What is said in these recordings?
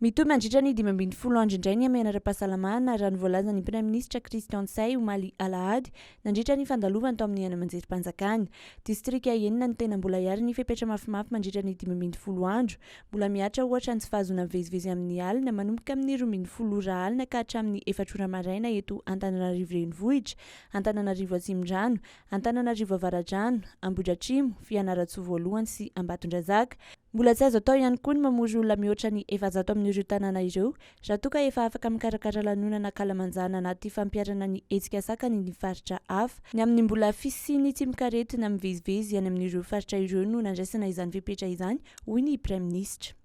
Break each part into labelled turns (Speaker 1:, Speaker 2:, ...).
Speaker 1: Mitohy mandritra ny dimy ambin'ny folo andro indray ny hamehana ara-pahasalamana, raha ny voalazan'ny Praiminisitra Christian Tsay, omaly alahady, nandritra ny fandalovany tao amin'ny haino aman-jerim-panjakana. Distrika enina no tena mbola hiary ny fepetra mafimafy mandritra ny dimy ambin'ny folo andro. Mbola mihatra ohatra ny tsy fahazoana mivezivezy amin'ny alina, manomboka amin'ny roa ambin'ny folo ora alina ka hatramin'ny efatra ora maraina eto Antananarivo Renivohitra, Antananarivo Atsimondrano, Antananarivo Avaradrano, Ambohidratrimo, Fianarantsoa Voalohany sy Ambatondrazaka. Mbola tsy azo atao ihany koa ny mamory olona mihoatra ny efajato amin'ireo tanàna ireo raha toa ka efa afaka mikarakara lanonana ankalamanjana anaty fampiharana ny hetsika sakany ny faritra hafa. Ny amin'ny mbola fisian'ny tsimokaretina mivezivezy any amin'ireo faritra ireo no nandraisana izany fepetra izany, hoy ny praiminisitra.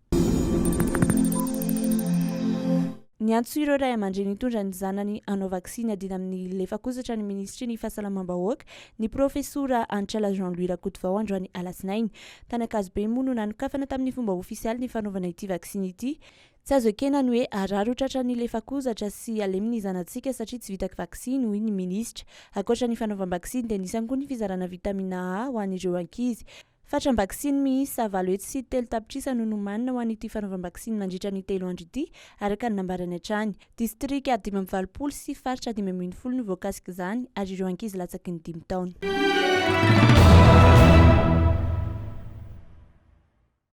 Speaker 1: Niantso ireo ray aman-dreny hitondra ny zanany hanao vaksiny adina amin'ny lefak'ozatra ny minisitry ny Fahasalamam-bahoaka, ny profesora Anchala Jean Louis Rakotovao androany alatsinainy. Tany Ankazobe moa no nanokafana tamin'ny fomba ofisialy ny fanaovana ity vaksiny ity. Tsy azo ekena ny hoe harary ho tratra ny lefak'ozatra sy halemy ny zanatsika satria tsy vita vaksiny, hoy ny minisitra. Ankoatra ny fanaovam-baksiny dia nisy ihany koa ny fizarana vitamina A ho an'ireo ankizy. Fatram-baksiny miisa valo hetsy sy telo tapitrisa no nomanina ho an'ity fanaovam-baksiny mandritra ny telo andro ity, araka ny nambarany hatrany. Distrika dimy amby valopolo sy faritra dimy ambin'ny folo no voakasik'izany, ary ireo ankizy latsaky ny dimy taona.